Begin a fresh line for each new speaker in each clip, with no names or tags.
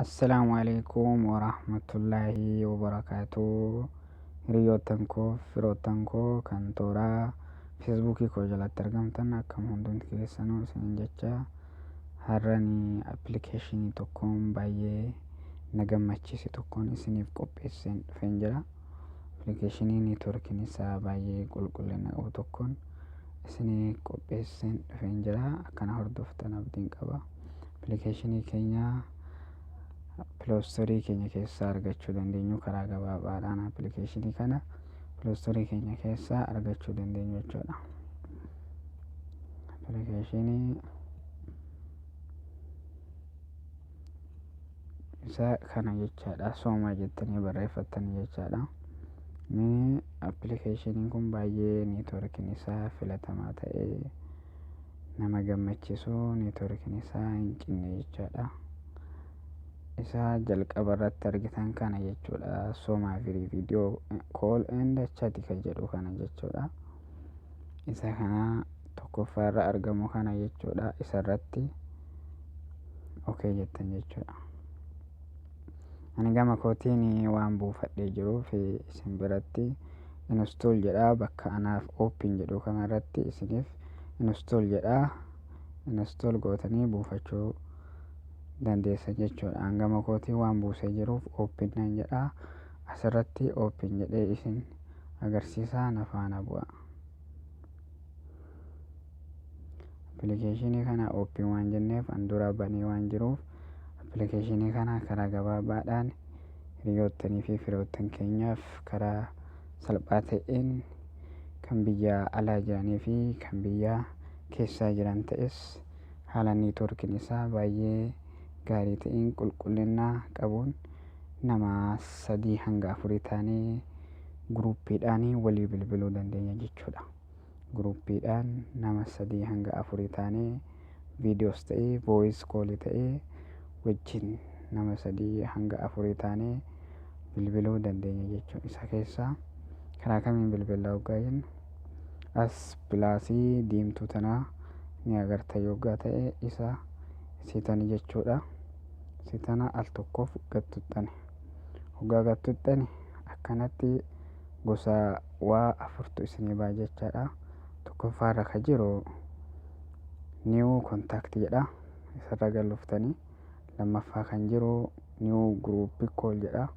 Assalaamu alaikum warahmatullaahi wabarakaatuh Hiriyoottan koo firoottan koo kan tooraa feesbuukii koo jalatti argamtan akkam hundumti keessanuu isinin jecha har'ani appilikeeshinii tokkoon baay'ee na gammachiise tokkoon isiniif qopheesseen dhufeen jira. Appilikeeshinii neetwoorkiin isaa baay'ee qulqullina qabu tokkoon isinii qopheesseen dhufeen jira. Akkana hordoftan abdiin qaba. Appilikeeshinii keenya piloostorii keenya keessaa argachuu dandeenyu karaa gabaabaadhaan appilikeeshinii kana piloostorii keenya keessaa argachuu dandeenyu jechuudha. Appilikeeshinii isaa kana jechaadha soomaa jettanii barreeffattan jechaadha mee appilikeeshiniin kun baay'ee neetworkiin isaa filatamaa ta'ee nama gammachiisu neetworkiin isaa hin cinne jechaadha isaa jalqaba irratti argitan kana jechuudha soomaa firii viidiyoo kool enda chati kan jedhu kana jechuudha isa kana tokkoffaa irra argamu kana jechuudha isa irratti ok jettan jechuudha ani gama kootiin waan buufadhee jiruuf isin biratti install jedha bakka anaaf open jedhu kana irratti isiniif install jedha install gootanii buufachuu dandeessan jechuudha an gama kootiin waan buusee jiruuf open nan jedha asirratti open jedhee isin agarsiisaa na faana bu'a. Appilikeeshinii kana ooppiin waan jenneef an dura banee waan jiruuf appilikeeshinii kana karaa gabaabaadhaan hiriyoottanii fi firoottan keenyaaf karaa salphaa ta'een kan biyya alaa jiranii fi kan biyya keessaa jiran ta'es haala niitoorkiin isaa baay'ee gaarii ta'een qulqullina qabuun nama sadii hanga afurii taanee guruuppiidhaan walii bilbiluu dandeenya jechuudha. Guruuppiidhaan nama sadii hanga afurii taanee viidiyoos ta'ee vooyis koolii ta'ee wajjin nama sadii hanga afurii taanee bilbiluu dandeenya jechuudha. Isa keessaa karaa kamiin bilbila hoggaa jennu as pilaasii diimtuu tanaa ni agarta yoggaa ta'e isa sitani jechuudha sitana al tokkoof gattuttani hoggaa gattuttani akkanatti gosa waa afurtu isinii ba'a jechaadha tokkoffaarra ka jiru new contact jedha isarra galuftani lammaffaa kan jiru new group call jedha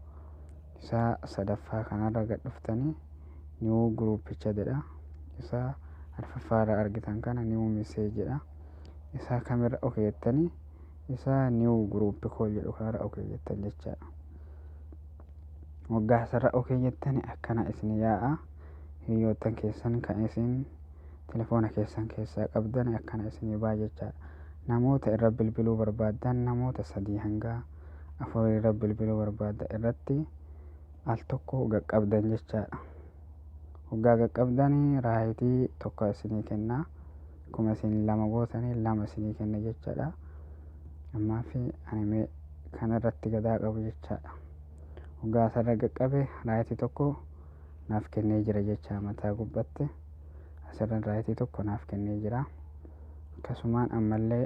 isa sadaffaa kanarra gad dhuftani new group chat jedha isa arfaffaarra argitan kana new message jedha isaa kamirra ok jettanii isaa new group call jedhu kanarra ok jettan jechaadha waggaa isarra ok jettanii akkana isin yaa'a hiriyoottan keessan kan isin telefoona keessan keessaa qabdan akkana isin baa jechaadha namoota irra bilbiluu barbaaddan namoota sadii hanga afur irra bilbiluu barbaadda irratti al tokko qaqqabdan jechaadha waggaa qaqqabdanii raayitii tokko isinii kennaa akkuma isin lama gootanii lama isinii kenna jechaadha ammaa fi ani mee kana irratti gadaa qabu jechaadha hoggaa asarra qaqqabe raayitii tokko naaf kennee jira jechaa mataa gubbatti asirra raayitii tokko naaf kennee jira akkasumaan ammallee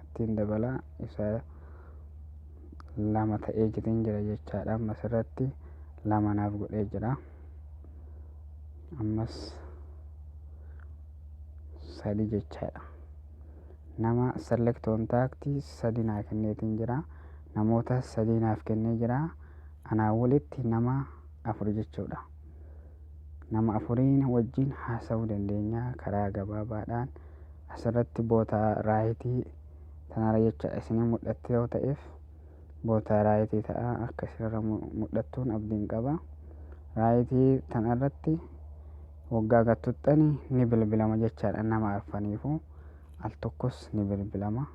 ittiin dabala isa lama ta'ee jitiin jira jechaadha ammas irratti lama naaf godhee jira ammas sadi jechaadha nama select contact sadi naa kenneetiin jira namoota sadii naaf kennee jira anaa walitti nama afur jechuudha Nama afuriin wajjin haasa'uu dandeenya karaa gabaabaadhaan. Asirratti boota raayitii tanarra jecha isinii mul'atti yoo ta'eef boota raayitii ta'a akka isinirra mul'attuun abdiin qaba. Raayitii tanarratti waggaa gattuxxani ni bilbilama jechaadha nama arfaniifuu. Al tokkos ni bilbilama.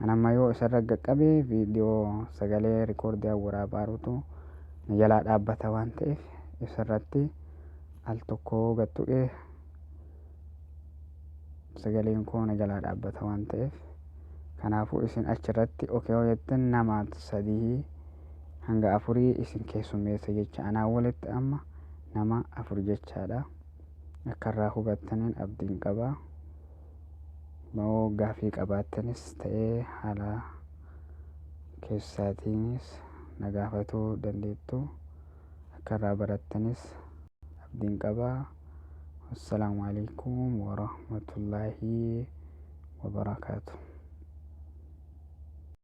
An amma yoo isarra gaqqabe viidiyoo sagalee rikoordian waraabaarutu na jalaa dhaabbata waan ta'eef isarratti al tokko gad tuqe sagaleen koo na jalaa dhaabbata waan ta'eef kanaafuu isin achirratti okee yoo jettan nama sadii hanga afurii isin keessummeessa jecha anaa walitti amma nama afur jechaadha. Akka irraa hubattaniin abdiin qaba. Yoo gaaffii qabaattanis ta'ee haala keessaatiinis na gaafatuu dandeettu. Akka irraa barattanis abdiin qaba. Wassalaamu alaikum warahmatullaahi wabarakaatu.